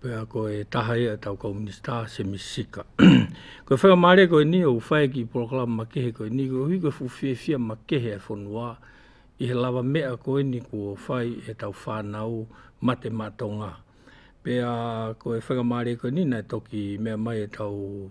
Pea koe e taha ia tau komunista, se mi sika. koe whaka maare koe ni o whae ki proklama ma kehe koe ni, koe hui koe fuwhiewhia ma kehe e whonua, i he lawa mea koe ni kua whai e tau whanau ma te matonga. Pea koe whaka maare koe ni na toki mea mai e tau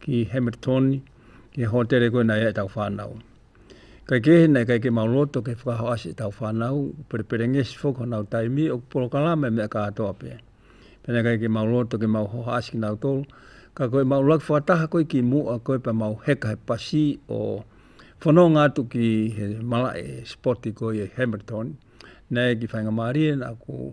ki Hamilton, ki Hotere koe nei e tau whanau. Kai ke he nei, kai ke mau loto, kai whakaho asi e tau whanau, pere pere ngesi fok o nau taimi, o kuporo kalame me a ka atoa pe. Pene kai ke mau loto, ke mau hoha asi ki nau tolu, ka koe mau lak whakataha koe ki mua, koe pa mau heka he pasi o whanau ngā tu ki he mala e spoti koe e Hamilton, nei ki whainga marie na ku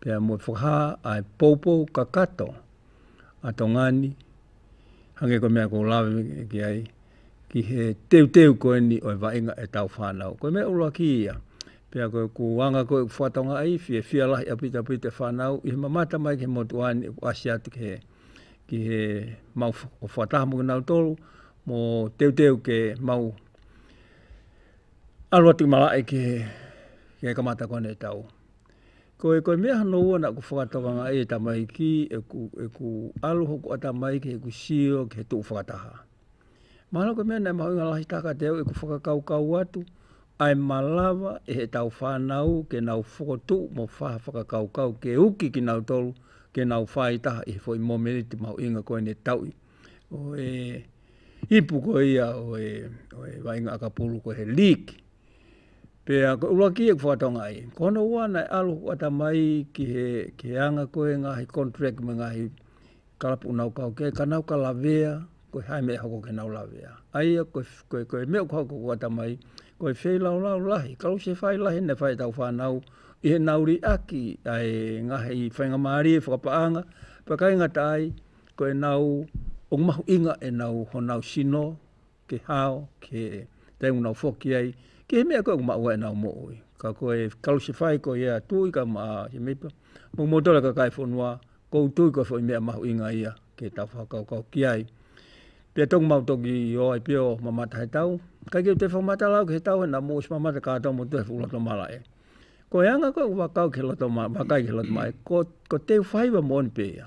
Pea mo whakaha ai popo ka kato a to ngani hange ko mea ko lawe ki ai ki he teu teu ko ni o va inga e tau whanau ko me ulo ki ia pea ko ku wanga ko whatonga ai fie fia la ia pita pita whanau i ma mata mai ki mo tuani ku asia te ke ki he mau o whata mo na tolu mo teu teu ke mau alo tu mala e ke ke kamata ko ne tau Ko e koe mea no ua naku whakatokanga e tamaiki e ku e ku alo hoku a tamaiki he ku sio ki he tu whakataha. Mahalo koe mea nei mahu nga lahi taka te au e ku whakakau kau atu ai malawa e he tau whanau ke nau whoko tu mo whaha whakakau kau ke uki ki nau tolu ke nau wha i taha i he fo i momeriti mahu inga koe ne tau i o e ipu koe ia o e o e wainga akapulu koe he liki Pea ko ua ki e whatonga ai. Ko no ua na alo ko ata mai ki he ki he anga ko e nga he contract me nga he kalapu nau kau ke ka nau ka lavea ko hai me hoko ke nau lavea. Aia ko ko ko me ko ko ata mai ko e whei lau lau lahi ka se whai lahi ne whai tau whanau i he nau ri aki ai nga he i whainga mari e whakapaanga pa kai nga tai ko e nau o mahu inga e nau ho nau sino ke hao, ke te una whoki ai, ke he mea koe ko maua e nao mooi. Ka koe kalosi whai ko ia tui ka ma si mipa, mo motora ka kai whonua, ko utui ko whoi mea mahu inga ia, ke ta whakau kau ki ai. Pia tongu mau toki i o ai pio mamata he tau, kai kei te whamata lau ke he tau he na moos mamata ka tau mo tuhe fulo to mala e. Ko e anga koe wakau ke loto ma, wakai ke loto mai, ko, ko te whaiwa mo ni pia.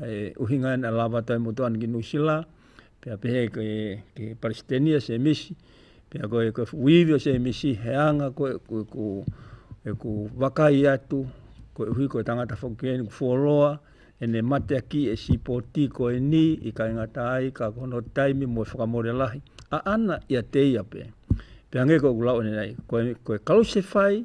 E uhinga ana lava tau motu ana ki New Zealand, pea pehe koe ki Palestina se misi, pea koe ko wīwio se misi, he anga koe, koe ko, e ko wakai atu, koe uhi koe tangata whakukeni, ko wholoa, e ne mate a ki e si poti koe ni, i kai ngata ai, ka kono taimi mo e whakamore lahi, a ana i a te ia pe, pea nge koe kulau nei, koe, koe kalose whai,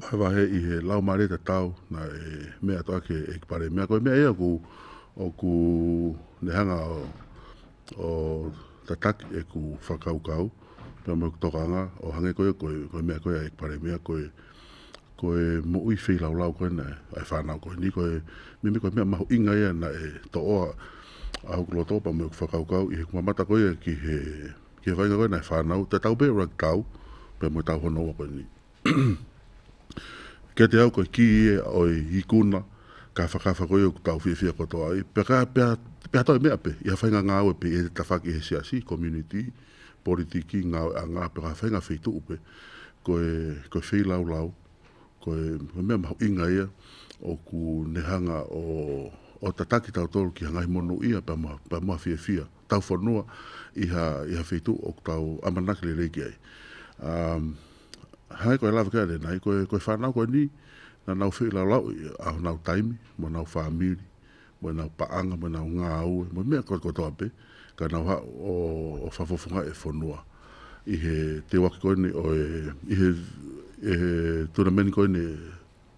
Wahe wahe i he lau mareta tau na e mea to ake e pare mea koe mea e aku o ku nehanga o, o tatak e ku whakau kau pia mo tokanga o hange koe koe koe mea koe e pare mea koe koe mo ui whi lau lau koe na ai whanau koe ni koe me me koe mea mahu inga ia na e to oa a huklo topa mo whakau kau i he kumamata koe ki he Kia kainga koe nei whanau, te tau pea rug tau, pea mo tau honoa koe nei. Kei te au koe ki e oi i kuna, ka whakawha koe o tau whiawhia koto ai, pea ka pea, pea toi mea pe, ia whainga nga au pe e te tawhaki he siasi, community, politiki, nga au a nga, pea ka whainga whi tuu pe, koe, koe whi lau lau, koe, koe mea mahu inga ia, o ku nehanga o, o ta taki tau toru ki hangai mono ia, pea mo, pea mo whiawhia. tauwhanoa i ha, i ha whetu o tau amanaki le reiki ai. Um, hai koe lawa kare nai, koe, koe whanau koe ni, na nau whi lau lau, a nau taimi, mo nau whamiri, mo nau paanga, mo nau ngā aue, mo mea koe koe toa pe, ka nau ha o, o whafofunga e whanua. I he te waki koe ni, o e, i he, e he tuna meni koe ni,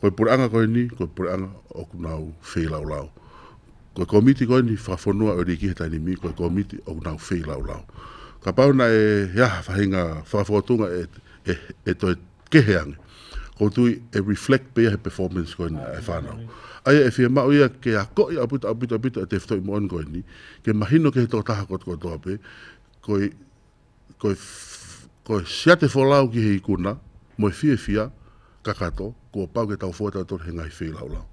Koe pureanga koe ni, koe pureanga oku nau whei lau lau. Koe komiti koe ni, whawhanua o riki he taini mi, koe komiti oku nau whei lau lau. Ka pau na e he aha whahinga whawhatunga e, e, e toi kehe ange. Ko tui e reflect pea he performance koe ni e whanau. Aia e whia mau ia ke a koi a puta a puta puta e te whtoi moan koe ni, ke mahino ke he to taha ko, ko toa pe, koe ko e, ko e sia te wholau ki he ikuna, mo e whiwhia, kakato, ko o pau ke tau whoe tau tonu he ngahi whei lau lau.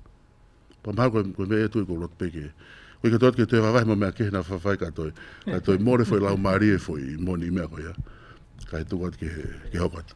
Pa mahau koe, koe me e tui ko rot peke. Koe ke toat ke te wawai mo mea kehna whawhai ka toi. Ka toi more whoi lau marie whoi, moni mea koe ya. Ka he tuku at ke, ke hokat.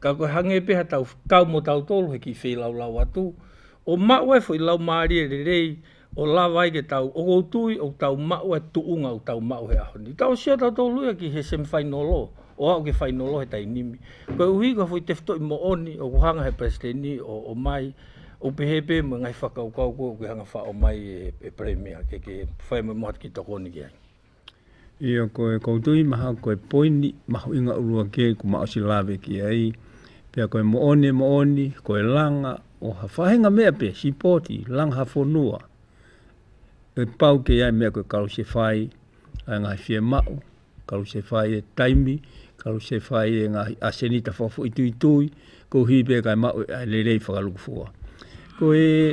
Ka koe hange peha tau kau mo tau tolu he ki fei lau lau atu. O maua e foi lau marie rerei o lava i ke tau o kou tui o tau maua e tuunga o tau maua he ahoni. Tau sio tau tolu ia ki he semi final o o au ke final o he tainimi. Koe uhi ka foi tefto i mo oni o kuhanga he presiteni o o mai o pehe pe mo ngai whakau kau koe o kuhanga wha o mai e e premier ke ke whai mo mo hat ki tokoni ke ai. Ia koe koutou i maha koe poini, maho i nga urua ke ko ma osi lave ki ai. Pea koe mo one mo oni, koe langa, o ha whahenga mea pe, si poti, langa ha fonua. E pau ke ai mea koe karu se whai, ai nga fie mao, karu se whai e taimi, karu se whai e nga aseni ta fofo i tui tui, ko hi pe kai mao e ai le rei whakaluku fua. Koe,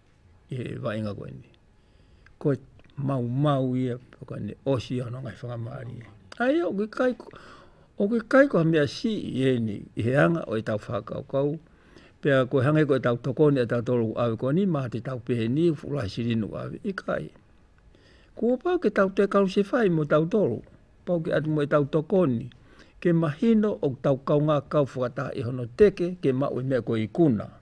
e waenga koe nei. Koe mau mau ia, koe ne osi ano ngai whakamari. Ai o ke kai, o ke kai koe mea si i e ni, i he anga o e tau whakau kau, pea koe hange koe tau tokoni a tau tolu awe koe ni, maha te tau pehe ni, fulai sirinu awe, i kai. Kua pau ke tau te kau se whai mo tau tolu, pau ke atu mo e tau tokoni, ke mahino o tau kau ngā kau whakata i hono teke, ke mau i mea koe i kuna. Kuna.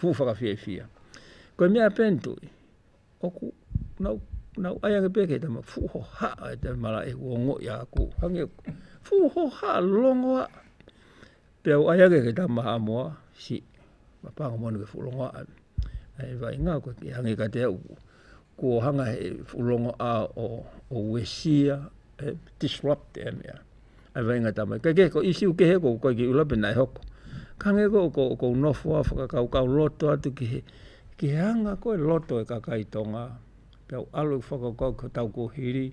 Whū whakawhiawhia. Koe me a pen toi. Oku, nau, nau, ai ange peke te ma, whū ho ha, ai te mara e kua ngo i a aku. Hange, whū ho ha, longo a. Pea o ai ange ke ta maha moa, si, ma panga moa ke whū longo a. Ai vai ngā koe ki hange ka te au. kua hanga he whulonga a o, o Wesia, e disrupt e mea. Ai vai ngā tāmai, kai kei ko isi uke he ko kai ki ula pena e hoko. Ka nge ko, ko, ko nofoa whakakau kau loto atu ki he, ki he hanga ko e loto e kakai tonga. Pia o alu whakakau ko tau ko hiri.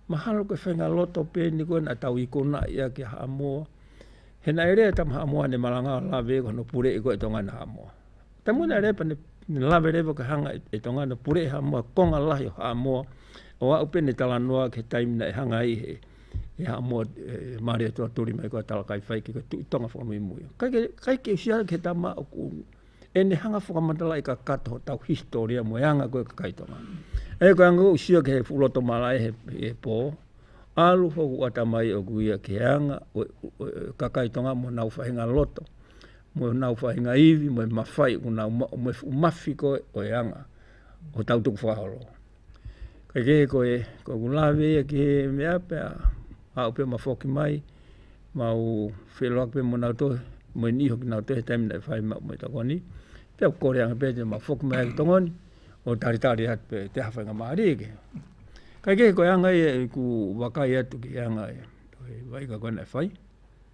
Mahalo ke whenga loto pēni ko na tau i kona ia ki hamoa. He na ere e tam hamoa ne malanga la vego no pure i ko e tonga na hamoa. Te muna repa ne lawe rewa ka hanga e tonga na pure e hamua konga lahi o Hamoa o au pene tala noa ke taimina e hanga i he e Hamoa e maria tua tori mai kua tala kai whai ke ka tui tonga whakamui mui. Kai ke, kai ke usia ke ta ma oku e ne hanga whakamatala i ka kata ho tau historia mo e anga koe ka kai tonga. E ka anga usia ke he fuloto mala e he, he po alu fo ku ata mai oku ia ke anga ka kai tonga mo nau whainga loto. Moe o nāu whāinga iwi, moe mawhai, ko nāu ma, moe whukumawhi koe, o e anga, o tau tuku whāhoro. Kai kē koe, ko ku lāwe ia ki he mea pea, a upe ma whoki mai, ma u wheloak pe mo nāu tohe, moe ni hoki nāu tohe, taimina e whai ma, moe takoni, pea kore anga pē te ma whoki mai ki tongoni, o tari tari atu pē, te hawhainga māri eke. Kai kē koe anga ia, ku wakai atu ki anga ia, vai ka koe nei whai,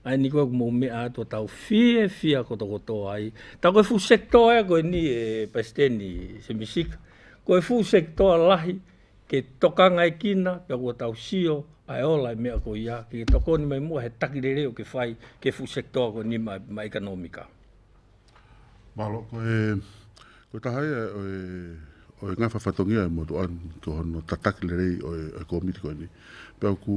Ai ni koe mo me a to tau fie fia ko to to ai. Ta koe fu sector e koe ni e pasteni se misik. Koe fu sector lahi ke toka ngai kina pe ko tau sio ai ola me ko ia ke tokoni mai mo he taki rere o ke fai ke fu sector ko ni mai mai ka nomika. Malo ko e ko tahai e o e o e ngafa fatongi ai mo to an to no tataki rere o e komiti ko ni. Pe ku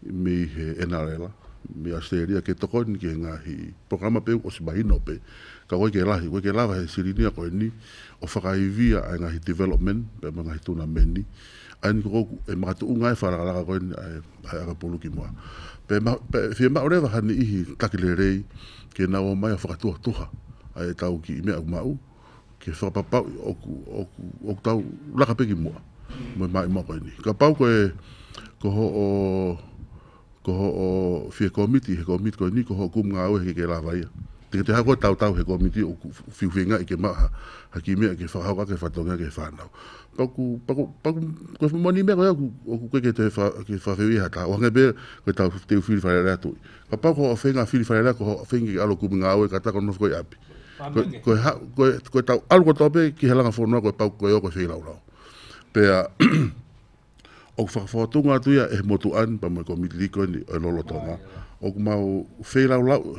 me he NRL, me Australia, ke toko ni ke nga hi programa pe o si bahi no pe, ka koe ke lahi, koe ke lawa he sirinia koe ni, o whakaivia ai nga hi development, pe ma nga hi tuna me ni, ai ni ko e ma tu unga e whara ka laka koe ni, ai, ai aka pulu ki mua. Pe ma, pe, fie ma ore waha ni ihi takile rei, ke na o mai a whakatuha tuha, ai e tau ki i mea u ma u, Kia whakapapau i oku, oku, oku tau rakapeki mua. Moe mai mua koe ni. Ka pau koe, ko ho o, ko ho o whie komiti, he komiti koe ni, ko ho kum ngā ue ke ke rāwaia. Te ke te hakoa tau tau he komiti o whiwhinga i ke mau ha, ha ki mea ke whakahoka, ke whatongia, ke whanau. Paku, paku, paku, koe whamoni mea koe oku, oku koe ke te wha, ke whawhiu i ha tau. Ohange be, koe tau te uwhiri whare rea tui. Ka pau ko Whenga Whiri Wharerea, ko Whengi Aro Kuminga Aue, ka taka noa whakoi api. Koe, koe, koe tau aru ko tope ki he langa whonua koe pau koe o koe whei raurau. Pea, o ku whakawhakatunga atu ia e motu an, pa mai ko Midi Likon i e lolo tonga, o ku mau whei raurau,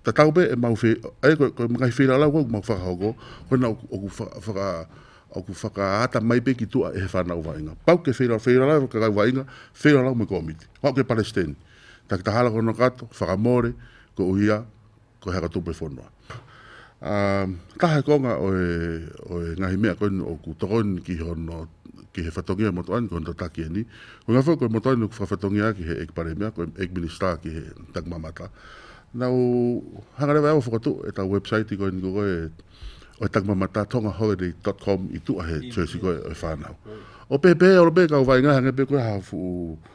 ta tau pe e mau whei, e koe, koe mga whei raurau koe ku mau whakahoko, koe na o ku whaka, o ku whaka ata mai pe ki tua e he whanau vainga. Pau ke whei raurau, whei raurau ka kau vainga, whei raurau me ko Midi. Wau ke Palestine. Taki tahara ko no kato, whakamore, ko uhia, ko hea ka tope whonoa. A, taha ko nga oe, oe ngahi mea koe ni oku tokoni ki hono, ki he whatongia mo to ainu, ki hono tataki e ni. Ko nga whau koe mo to ainu ku whawhatongia aki he eg pare mea, ko eg mini star ki he tag mamata. Na u hangarewa e awa whakato e ta website koe ni ko koe oe tag mamata tonga holiday.com i tu ahe choice koe oe whanau. O pepe, o robe ka uwai ngaha ngepe koe ha fu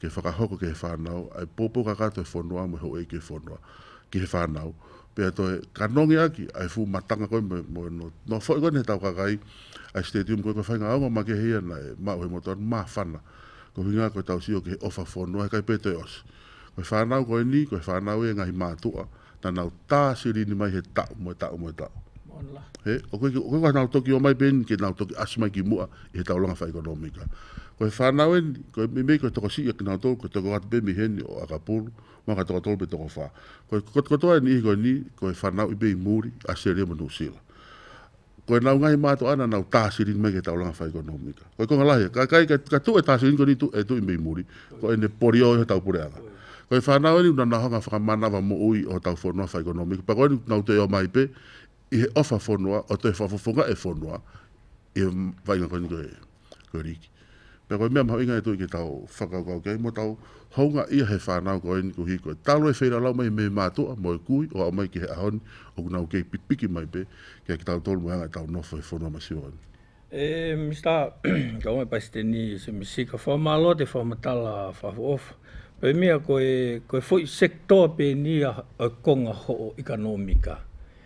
Kei whakahoko ki he whanau, I popo ka katou whonua mo ho e ke whonua, ki he whanau, pea toi, ka nongi aki, I fu matanga koe mo, mo no, no fo koe ne tau kakai, I stadium koe ko whai nga aonga ma ke hei ana e, ma uhe mo tonu, ma whana, ko hinga koe tau sio ki he ofa whonua he kai pe toi osi. Koe whanau koe ni, koe whanau e ngahi matua, Nana o ta siri ni mai he ta mo ta mo ta. Monla. He, o koe, o koe ka nau toki o mai ben, ke nau toki asi mai ki mua, i he taulanga whai ekonomika. Ko he whanau en, ko he mimei, ko he toko si, e kina tolu, ko toko atu pe mi hen, o aka polu, ma ka toko tolu pe toko wha. Ko he kotoa ni, ko ni, ko he whanau i pe i muri, a seria mo New Zealand. Ko e nau ngai mātou ana nau tāsiri me ke taulanga whaikonomika. Ko e konga lahi, ka, kai, ka, ka tu e tāsiri ko ni tu, e tu i mei muri, ko e ne pori o e tau pore anga. Ko e whanau ni unana hanga whakamanawa mo ui o tau whonua whaikonomika, pa koe ni nau te o mai pe, i he ofa whonua, o te whafofonga e whonua, i he vainga koe ni koe. Kua riki. Pea koe mea maha inga e toi ke tau whakakau kei mo tau hounga ia he whanau ko eni ko hi koe talo e whera lau mai me matoa mo e kui o au mai ki he ahoni o kuna o kei pipiki mai pe kia ki tau tolu mai anga e tau nofo he whono mai siwa eni. E Mista, ka wai pai ste ni se misi ka wha malo te wha matala wha of pe mea koe koe foi sektor pe ni a konga ho o ikanomika.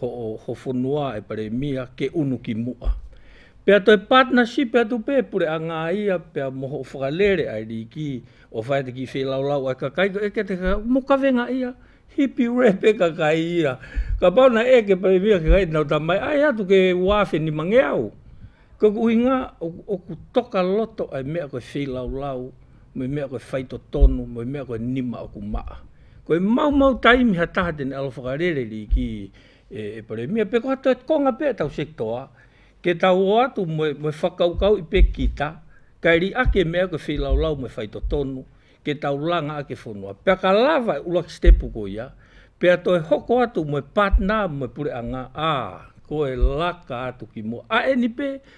ho hofo noa e Paremia ke unu ki mua. Pea toi partnership e atu pē pure a ngā ia pea moho whakarere ai rīki o whaete ki whēlaulau ai ka kai eke te ka mo kawenga ia hipi repe ka kai ia ka pau na eke Paremia ka kai nau tamai ai atu ke wāwheni mangeau ko ku uinga o ku toka loto ai mea koe whēlaulau Me mea koe whai to tono, me mea koe nima oku maa. Koe mau mau taimi ha taha tene alo whakarereri ki e Paremia, pe koha toet konga pe tau sektoa, ke tau o atu moe whakaukau i pe kita, kai ri ake mea koe whi lau lau me whai to tono, ke tau langa ake whonua. Pea ka lawa e Ulak Stepu ko ia, pea toe hoko atu moe partner moe pureanga, a, koe laka atu ki mua. Aeni pe,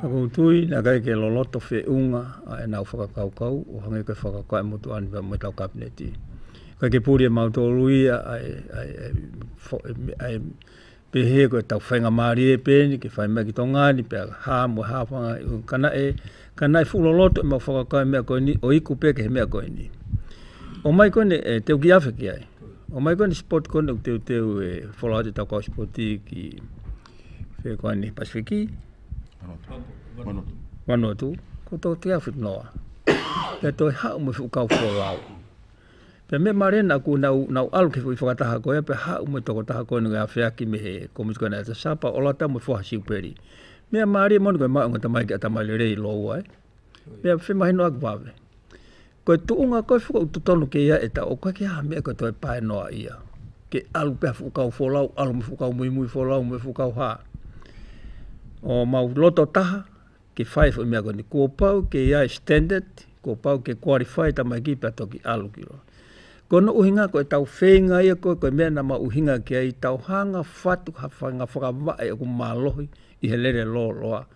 Taku tui, na kei ke loloto whe unga a e nau whakakaukau, o hangi ke whakakai mo tu aniwa me tau kapineti. Kei ke puri e mau toru ia ai, ai, ai, ai, pehe koe tau whainga marie peni, ke whai mai ki to ngani pea, ha mo ha whanga, kana e, kana e fuloloto e mau whakakai mea koe ni, o iku pea ke he mea koe ni. O mai koe ne, e, teu ki awheki ai. O mai koe ne spot koe ne, teu, teu, e, wholai te tau kau spoti ki, Whea koe ni, Pasifiki? Vanuatu. Vanuatu. Ko tō te awhit noa. Pea tō e hau mo whu kau whua wau. Pea me marena ku nau, nau alu ki whu i whakataha koe, pea hau mo toko taha koe nunga awhea ki me he komis koe na e ta sapa o lata mo whu hasi uperi. Mea maare mo nunga maunga tamai ki a tamai le rei lo uai. Eh? Mea whi mahi noa ki wāwe. Koe tu unga koe whuka utu tonu ke ia e ta o koe ki aha mea koe toi pae noa ia. Ke alu pia whukau wholau, alu me whukau mui mui wholau me whukau ha. O mau loto taha, ke whai whu mea koe ni kua pau ke ia e standard, kua pau ke qualify ta mai ki pia toki alu ki roa. Koe no uhinga koe tau whenga ia koe koe mea na ma uhinga ki ai tau hanga whatu ha whanga whakama e kumalohi i he lere lo loa.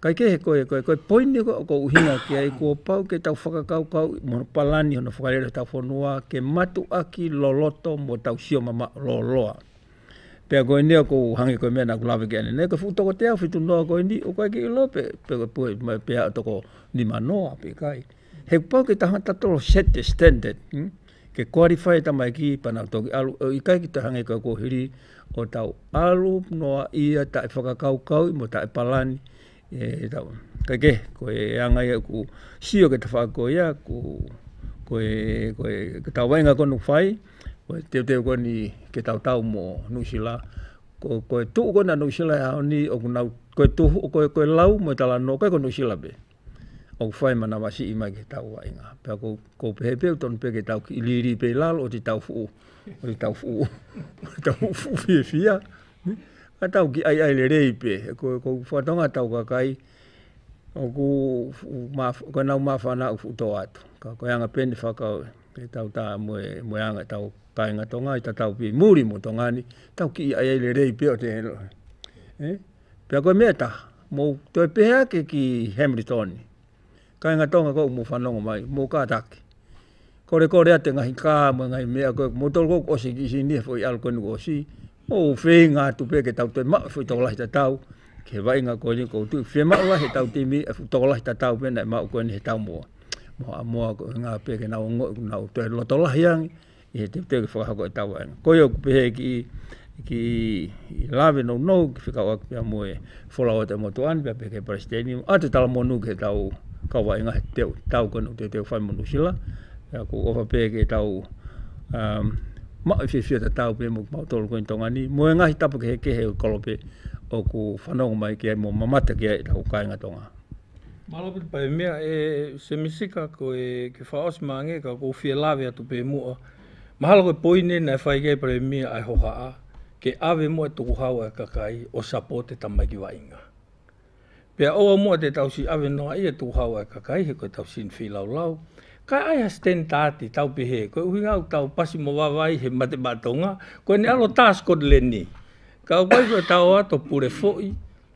Kai kē he koia koe, koe poini koe o kou hinga kia i kua pau kei tau whakakaukau i mono palani hono whakareira tau whanua ke matu aki loloto mo tau sio mama loloa. Pea koe nea kou hangi koe mea naku lawe kea nene koe fu toko te au fitu noa koe ni o kai ki lope pe koe pue mai pea toko ni manoa pe kai. He pau ke tangata toro set the standard, hmm? ke qualify e tamaiki i pana toki alu, i kai ki te hange kau kohiri o tau alu noa ia ta e whakakau kau i mo ta e palani, e tau, kai ke, ko e angai au ku sio ke te whako ia, ku, ko e, ko e, ke tau wainga konu whai, ko e teo teo koni ke tau tau mo Nusila, ko, ko e tuu kona Nusila e haoni, o kuna, ko e tuu, ko e, ko e lau mo e tala no kai ko Nusila be. Au whai mana wa si imai ke tau wa inga. Pea ko, ko pehe peo ton pe ke tau ki ili ili pe lalo o ti tau fu. O ti tau fu. tau fu fi fi ya. A tau ki ai ai le rei pe. Ko, ko fa tonga tau ka kai. O ku, ma, ko nau ma fa na ufu to atu. Ka ko yanga pe ni fa ka oi. Ke tau ta mo e, mo e anga tau kai nga tonga i ta tau pi muri mo tonga ni. Tau ki ai ai le rei pe o te helo. Eh? Pea koe mea taha, mo toe pehe ake ki Hamiltoni, kainga tonga kou mo whanonga mai, mo ka taki. Kore kore ate ngahi ka mo ngahi mea koe, mo tolu kou osi ki si nihe foi alko nuku osi, mo whei nga atu pe ke tau toi ma foi tokolahi ta tau, ke vai nga koe ni kou tui, whei ma ula he tau timi e fu tokolahi ta tau pena e ma u koe ni he tau mo, mo a mo a nga pe ke na o ngo u na u toi lotolahi ang, he te teo ki whakahako e tawa ena. Koe oku pehe ki, ki lawe no no ki whikawa ki pia moe whola o te motu anu pia peke para steni a te tala monu ke tau kawa inga he teo tau kanu te teo whai monu sila e ako ofa pehe ke tau um, ma i whiwhia te tau pe mo ma tolu koin tonga ni moe ngahi tapu ke he kehe kolope oku whanau mai ke mo mamata ke tau kainga tonga Maraputupa e mea e Semisika ko e Kefaos ma nge ka ko fie lawe a to pe moa. Mahalo ke poi ne na e whai kei pare mia ai ho haa ke awe moa toku hau ai ka kai o sapo te tama ki wa inga. Pea oa moa te tau si awe noa ia toku hau ai ka kai he koe tau sin fi lau lau. Kai ai ha sten taati tau pe he koe uhi ngau tau pasi mo wa wai he mate ba tonga koe ne alo taas kod le ni. Kau wai koe tau a to pure fo i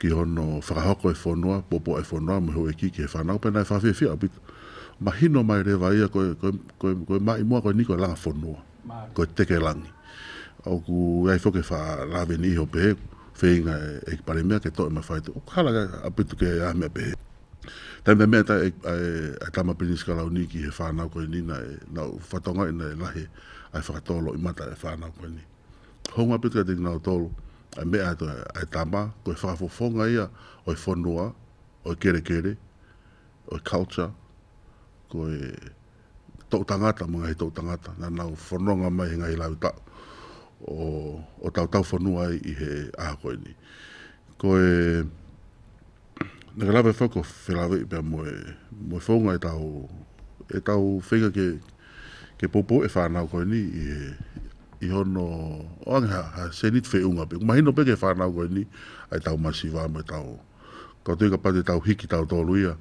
Ki hono whakahoko e whonoa, popo e whonoa, muhe oe ki, ki he whanau, pena e whawhiawhia, bit, ma hino mai rewa ia, koe, koe, koe, koe ma i mua, koe ni koe langa whonoa, koe teke langi. Oku e ai whoke wha laveni iho pehe, wheinga e, e ki pare mea ke to e ma whai tu, oku hala ke a pitu ke a mea pehe. Tena te mea ta e, e, e tama pini skalau ni ki he whanau koe ni na e, na whatonga i na e lahe, ai whakatolo i mata e whanau koe ni. Honga pika te ngau tolu, a me a to a tama, ko fa fo fo nga ia, o fo noa, o kere kere, o culture, ko e to tangata mo ngai to tangata, na na fo no nga mai ngai la uta. O o tau tau fo noa i he a ko ni. Ko e Naka lawe whako whelawe i pia moe, moe whaunga e tau, e tau whenga ke, ke popo e whanau koe ni i he, i hono, o ange ha, ha senit whe unga pe, kumahino pe ke whanau koe ni, ai tau masiva moe tau, kau tui ka pate tau hiki tau tolu ia,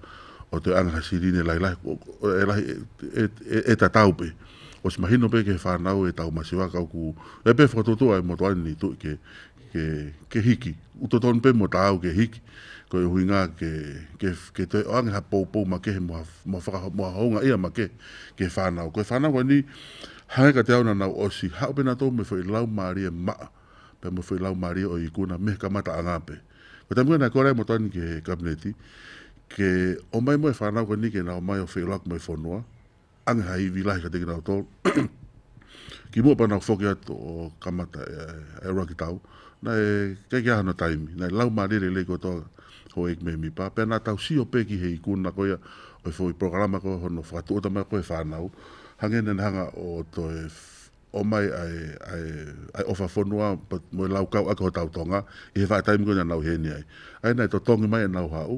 o te ange ha sirine lai lai, e lai, e, e, e, e ta tau pe, o si mahino pe ke whanau e tau masiva kau ku, e pe whakatoto ai mo toa ni tu ke, Ke, ke hiki. Uta tonu pe mua tāu ke hiki. Ko e hui ngā ke, ke, ke te o angeha poupou ma kehe moha, moha whaka, moha hounga ia ma ke, ke whānau. Ko e whānau koe ni, hangeka te auna nau osi, hau pena tō me whai lau mārie maa, pe me whai lau mārie o ikuna, me ka mata anga pe. Ko te muena e kore mo tani ke kabineti, ke o mai mo e whānau koe ni ke nau mai o whai lau mai whonua, Anga ha iwi lahi ka te kira o tō. ki mua pana o whoke atu o kamata e, e roa ki tau. Na e kei kia hana taimi. Na e lau ma rere lei koto ho e kme mi pa. Pea na tau si o pe ki hei kuna koia o i whoi programa koe hono whakatu o tamai koe whanau. Hange nen hanga o to e o mai ai ai ai ofa fonua but mo lau kau ako tau tonga i he wha taimi koe na nau heni ai. Ai na to tongi mai e nau hau.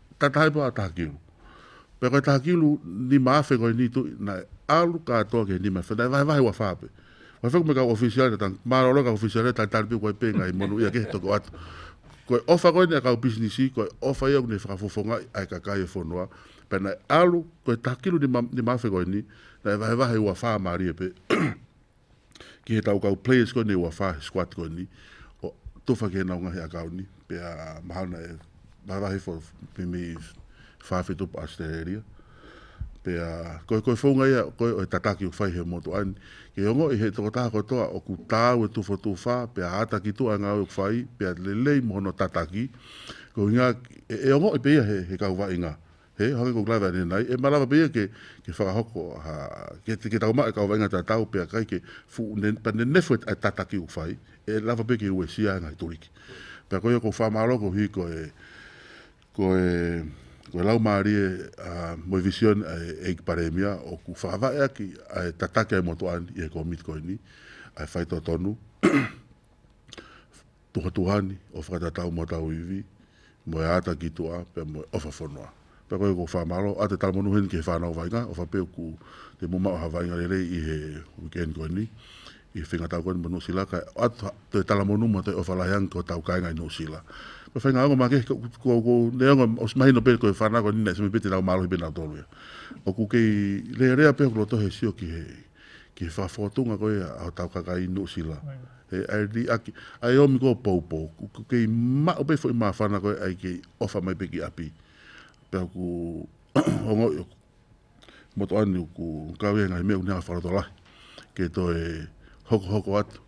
Tata hai pa ta kilu. Pe ka ta kilu ni ma fe ko ni tu na alu ka to ke ni ma fe na vai vai wa fa pe. Wa fe me ka official ta ma ro ka official ta ta pe ko pe nga i monu ya ke to ko at. Ko ofa ko ni ka business i ko ofa ya ni fa fo fo nga ai ka ka e fo no. Pe na alu ko ta kilu ni ma ni ma fe ko ni na vai vai wa fa ma ri pe. ki he tau kau players koe nei, ua wha, he squad koe nei, o, tō whakena o ngahi a kau nei, pea mahana e, maharahi for me wha wheto pa Australia, pea koe koe whaunga ia, koe o he tataki o whaihe mō tō aini, ke ongo i he toko taha koe toa, o ku tāu e tūwha tū wha, pea āta ki tū a ngā uk whai, pea lelei mohono tataki, ko inga, e, e ongo i peia he, he kau wha inga, He hongi ko Glover nenai, e marama pea ke ke whakahoko ha ke te ke tau mai ka wainga ta tau pea kai ke fu nen pa nen nefu e tata ki u whai, e lava pea ke ue sia ngai toriki. Pea koia ko whamaro ko hui ko e ko e ko e lau marie a moi vision e eik paremia o ku whakavae aki a e tata ke moto an i e ko mit koini a whai to tonu tuhatuhani o whakatatau mo tau iwi, moe ata ki tua, pea moe ofa whanoa. Pea koe ko whamaro, a te tama nuheni ki he whanau vaenga, ofa peu ku te muma oha vaenga rerei i he weekend koe ni, i he whenga tau koe ni mo Nusila, kai atu te tala mo numa te ofa lahe angi ko tau kainga i Nusila. Koe whainga aonga ma ke ko, ko, ko, ne aonga o smahino pe koe whanau koe ni nei, sami peti rau malohi pe nau toru ia. O ku kei rea rea pe o ku loto he sio ki he, Ki he whawhawhatunga koe a tau kaka i no sila. E ai ri aki, ai omi ko pou pou, ku kei ma ope fo i ma whana koe ai kei ofa mai pe ki api. Pea ku ongo i oku. Moto ani ku kawea ngai mea unea whara to lahi. Kei to e hoko hoko atu.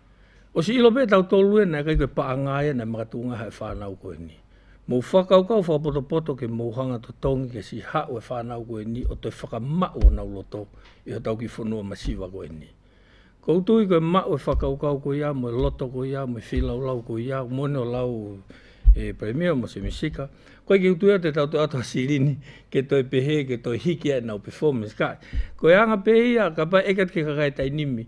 O si ilo pe tau tolu e nei kai koe paa ngai e nei maka tu ngaha e whanau koe ni. Mou whakau kau whapoto poto ke mou hanga to tongi ke si hau e whanau koe ni o toi whaka mau o nau loto i ho tau ki whonua ma siwa koe ni. Kou tui koe mau e whakau kau koe iau moe loto koe iau moe filau lau koe iau mone o lau e Premier mo se misika koe ki utu ea te tau to atua sirini ke toi pehe ke toi hiki e nau performance kai koe anga pe ia ka pa ekat ke ka kai tai nimi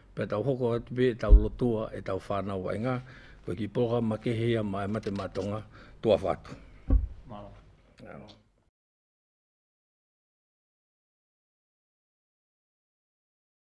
Pea tau hoko atu pea e tau lotoa, e tau whanau ai nga, koe ki porogama ke hea ma e mate ma tonga, to awha atu. Marama.